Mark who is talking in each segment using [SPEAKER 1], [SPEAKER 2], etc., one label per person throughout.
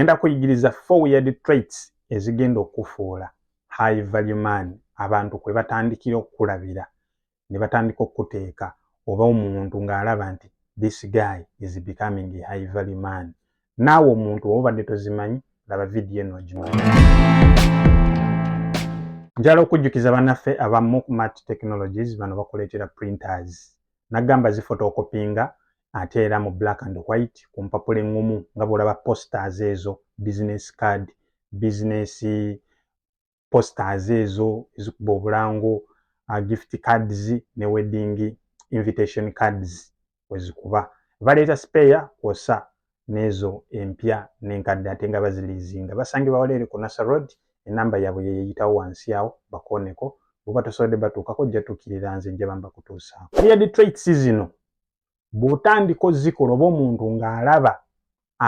[SPEAKER 1] Ngenda kuyigiriza four weird traits ezigenda okufuula high value man abantu kwe batandikira okukulabira ne batandika okukuteeka oba omuntu ng'alaba nti this guy is becoming a high value man. Naawe omuntu oba obadde tozimanyi laba vidiyo eno ogimanyi. Njala okujjukiza banaffe aba Mukmat Technologies bano bakuleetera printers. Nagamba zifotokopinga ate era mu black and white ku mpapula eŋŋumu nga bw'olaba posters ezo business card business posters ezo ezikuba obulango uh, gift cards ne wedding invitation cards wezikuba baleeta spare kwosa n'ezo empya n'enkadde ate nga baziliizinga basangibwa waleere ku nasa road enamba yaabwe yeyeyitawo wansi awo bakooneko bwebatosobodde batuukako jjatuukirira nze njaba mbakutuusaako ya detroits zino bw'otandika ozikola oba omuntu ng'alaba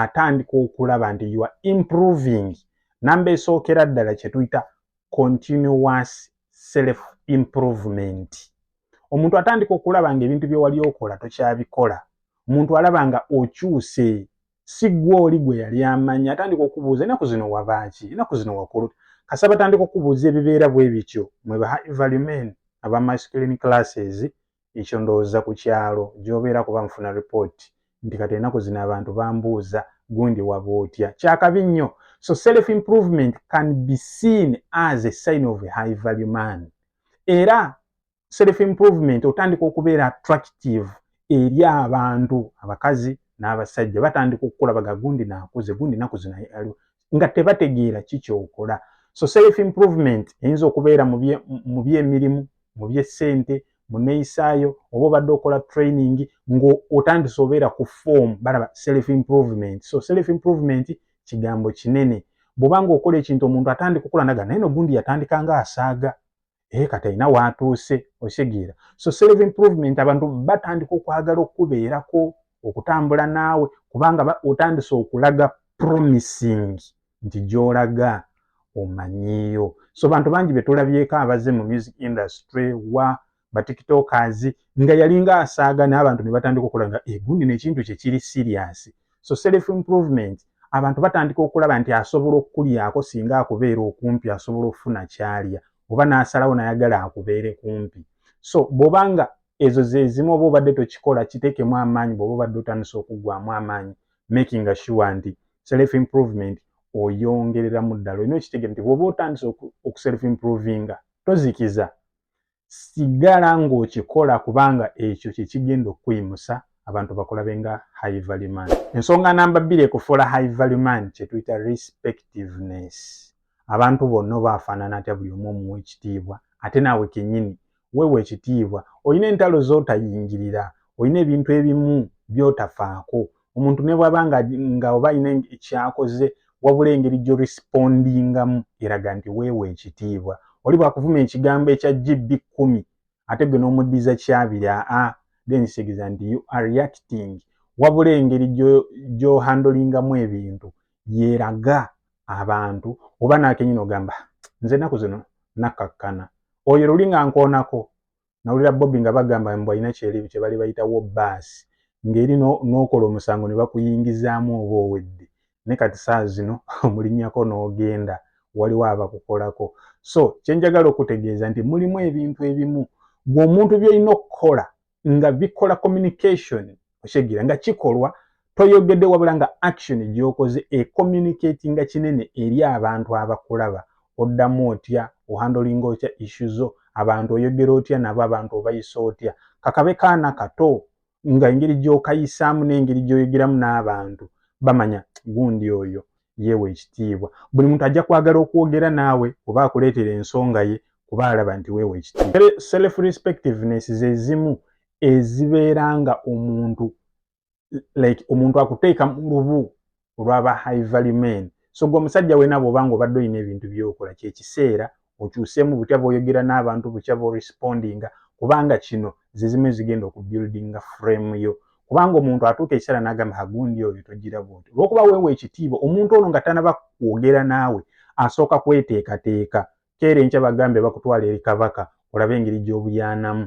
[SPEAKER 1] atandika okulaba nti you are improving namba esookera ddala kye tuyita continuous self improvement omuntu atandika okulaba ng'ebintu bye wali okola tokyabikola omuntu alaba nga okyuse si ggwe oli gwe yali amanyi atandika okubuuza enaku zino wabaaki enaku zino wakulu kasa batandika okubuuza ebibeera bwe bityo mwe ba high value men aba masculine classes ekyo ndowooza ku kyalo gy'obeera kuba nfuna ripooti nti kati enaku zino abantu bambuuza gundi waba otya kyakabi nnyo so self improvement can be seen as a sign of a high value man era self improvement otandika okubeera attractive eri abantu abakazi n'abasajja batandika okukulabaga gundi nakuze gundi naku zino nga tebategeera ki kyokola so self improvement eyinza okubeera mu byemirimu mu byessente mu neyisaayo oba obadde okola training ngaotandise obeera ku form balaba self improvement so self improvement kigambo kinene bwobanga okola ekintu omuntu atandika okola naga naye nogundi yatandika nga asaaga ee eh, kati alina waatuuse okitegeera so self improvement abantu batandika okwagala okukubeerako okutambula naawe kubanga otandise okulaga promising nti gyolaga omanyiyo so bantu bangi betulabyeko abaze mu music industry wa batiktokers nga yalinga asaaga naye abantu ne batandika okulanga egundi eh, nekintu kyekiri siriasi so self improvement abantu batandika okulaba nti asobola okukulyako singa akubeera okumpi asobola okufuna kyalya oba n'asalawo nayagala akubeere kumpi so bwoba nga ezo zezimu oba obadde tokikola kiteekemu amaanyi bwoba obadde otandisa okuggwamu amaanyi making sure nti self improvement oyongereramu ddala olina okitegere nti bwoba otandisa okuself improvinga tozikiza sigala ng'okikola kubanga ekyo kye kigenda okukuyimusa abantu bakulabe nga high value man. Ensonga namba bbiri ekufuula high value man kye tuyita respectiveness. Abantu bonna oba afaanana atya buli omu omuwa ekitiibwa ate naawe kennyini weewa ekitiibwa. Olina entalo z'otayingirira, olina ebintu ebimu by'otafaako, omuntu ne bwaba nga, nga oba alina ekyakoze wabula engeri gyo respondingamu eraga nti weewa ekitiibwa oli bwakuvuma ekigambo ekya gb kumi ate gwe n'omuddiza kyabiri aa then kitegeza nti you are reacting wabula engeri gyohandolingamu ebintu yeraga abantu oba nakenyini ogamba nze enaku zino nakakkana oyo luli nga nkoonako nawulira bobi nga bagamba mbu alina kyebali bayitawo baasi ngeri nokola omusango ne bakuyingizaamu oba owedde ne kati saa zino omulinyako n'ogenda waliwo abakukolako so kyenjagala okutegeeza nti mulimu ebintu ebimu gwe omuntu byolina okukola nga bikola communication okitegeera nga kikolwa toyogedde wabula nga action gyokoze ecommunicatinga kinene eri abantu abakulaba oddamu otya ohandolinga otya issu zo abantu oyogera otya nabo abantu obayisa otya kakabe kaana kato nga engeri gyokayisaamu n'engeri gyoyogeramu n'abantu bamanya gundi oyo yeewa ekitiibwa buli muntu ajja kwagala okwogera naawe oba akuleetera ensonga ye kuba alaba nti weewa ekitiibwa self respectiveness zezimu ezibeera nga omuntu like omuntu akuteeka mu lubu olwaba high value men so gwe omusajja wena bwoba nga obadde olina ebintu byokola kyekiseera okyuseemu butya bwoyogera n'abantu butya bworespondinga kubanga kino zezimu ezigenda okubuildinga frame yo kubanga omuntu atuuka ekiseera n'agamba hagundi oyo togira bwoti olwokuba weewa ekitiibwa omuntu ono nga tanaba kwogera naawe asooka kweteekateeka keera enkya bagambe bakutwala eri kabaka olabe engeri gy'obuyanamu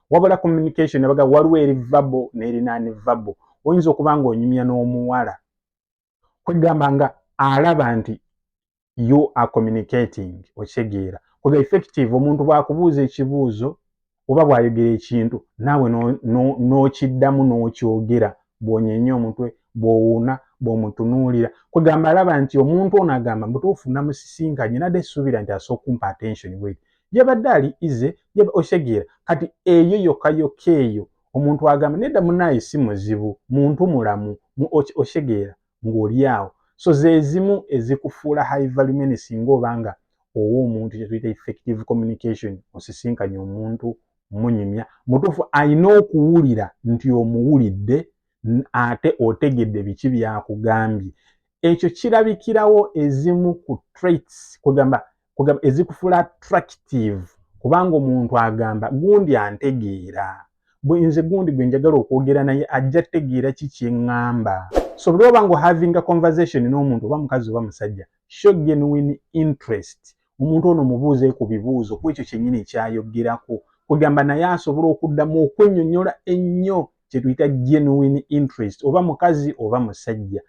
[SPEAKER 1] wabula communication abaga waliwo eri vabo n'erinaani vabo oyinza okuba ng'onyumya n'omuwala kwegamba nga alaba nti you are communicating okitegeera kwega effective omuntu bw'akubuuza ekibuuzo oba bw'ayogera ekintu naawe n'okiddamu n'okyogera bw'onyeenya omutwe bw'owuuna bw'omutunuulira kwegamba alaba nti omuntu ono agamba mutuufu namusisinkanye nadde suubira nti asooka kumpa attention weri yabadde ali ize osegeera kati eyo yokayoka eyo omuntu agamba nedda munaye si muzibu muntu mulamu osegeera ng'oli awo so zezimu ezikufuula high value men singa oba nga owa omuntu kyetuyita effective communication osisinkanye omuntu munyumya mutuufu alina okuwulira nti omuwulidde ate otegedde biki byakugambye ekyo kirabikirawo ezimu ku traits kugamba kugamba ezikufuula attractive kubanga omuntu agamba gundi antegeera nze gundi gwe njagala okwogera naye ajja tegeera ki kyeŋŋamba so buli oba nga having a conversation n'omuntu oba mukazi oba musajja show genuine interest omuntu ono mubuuze ku bibuuzo ku ekyo kyennyini ekyayoggerako kwegamba naye asobole okuddamu okwennyonnyola ennyo kyetuyita genuine interest oba mukazi oba musajja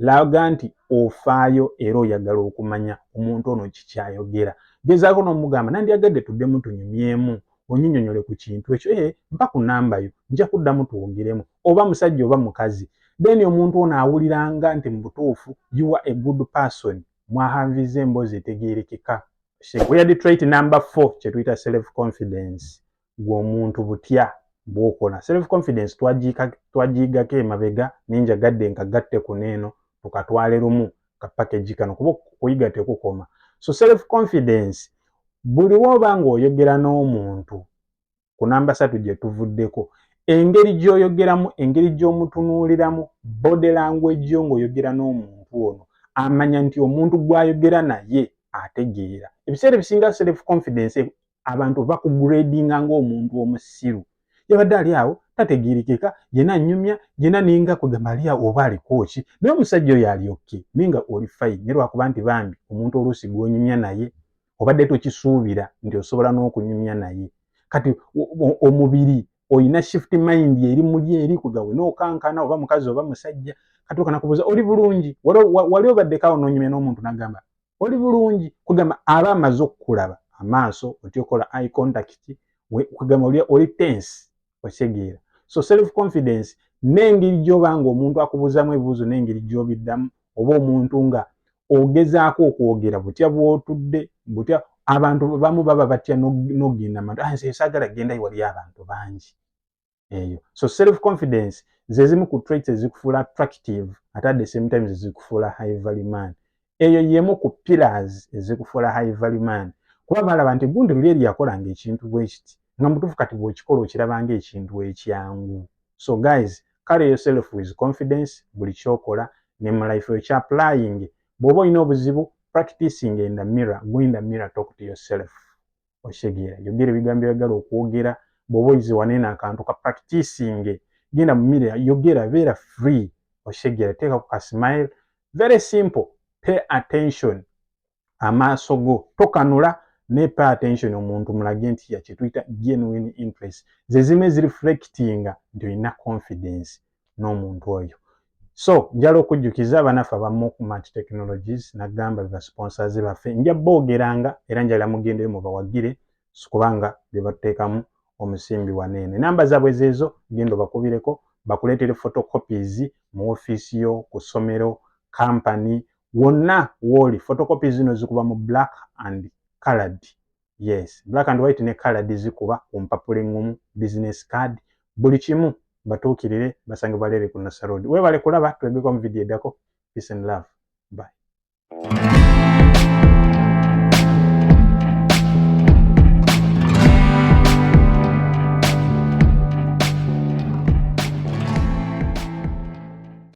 [SPEAKER 1] laga nti ofaayo era oyagala okumanya omuntu ono kikyayogera gezaako n'omugamba nandyagadde tuddemu tunyumyemu onyinyonyole ku kintu ekyo ee eh, mpa ku namba yo nja kuddamu twogeremu oba musajja oba mukazi then omuntu ono awuliranga nti mu butuufu you are a good person mwahanviza emboozi etegerekeka oya detroit number four kyetuyita self confidence gwe omuntu butya bwokola self confidence twagiigako emabega naye njagadde nkagatte kuno eno tukatwale lumu ka package kano kuba okuyiga tekukoma so self confidence buli woba nga oyogera n'omuntu ku namba satu gye tuvuddeko engeri gy'oyogeramu engeri gy'omutunuuliramu body language yo ng'oyogera n'omuntu ono amanya nti omuntu gw'ayogera naye ategeera ebiseera ebisinga self confidence abantu bakugradinga ng'omuntu omusiru yabadde ali awo tategeerekeka yena anyumya yena ninga kwegamba ali awo oba alikoki naye omusajja oyo ali oke naye nga oli fayini ne lwakuba nti bambi omuntu oluusi gw'onyumya naye obadde tokisuubira nti osobola n'okunyumya naye kati omubiri olina shift mind eri muli eri kugawe nokankana oba mukazi oba musajja kati okana kubuuza oli bulungi wali obaddeko awo nonyumya n'omuntu nagamba oli bulungi kugamba aba amaze okukulaba amaaso otyokola i contact kugamba oli tense okitegeera so self confidence n'engeri gy'oba nga omuntu akubuuzamu ebibuuzo n'engeri gy'obiddamu oba omuntu nga ogezaako okwogera butya bw'otudde butya abantu bamu baba batya n'ogenda matu ah, nze saagala genda wali abantu bangi eyo so self confidence zezimu ku traits ezikufuula attractive ate at the same time zezikufuula high value man eyo yemu ku pillars ezikufuula high value man kuba balaba nti gundi luli eri yakolanga ekintu bwekiti nga mutufu kati bwokikola okirabanga ekintu ekyangu so guys carry yourself with confidence buli kyokola ne mu life yo kya applying bwoba olina obuzibu practicing in the mirror go in the mirror talk to yourself okitegeera yogera ebigambo byagala okwogera bwoba oyize waneeno akantu ka practicinge genda mumire yogera beera free okitegeera teeka ku kasmile very simple pay attention amaaso go tokanula ne pay attention omuntu mulage nti yakyetuyita genuine interest zezimu ezireflectinga nti olina confidence n'omuntu oyo so njala okujjukiza abanaffe abamu ku mat technologies nagamba beba sponsors baffe nja boogeranga era njala mugendeyo mubawagire sikubanga bebatteekamu omusimbi waneene namba zaabwe zeezo genda obakubireko bakuleetere photocopies mu ofiisi yo ku ssomero kampani wonna wooli photocopies zino zikuba mu black and colored yes black and white ne colored zikuba ku mpapula eŋŋumu business card buli kimu batuukirire basangibwa leere ku nasa road weebale kulaba twegeko mu vidiyo eddako peace and love bye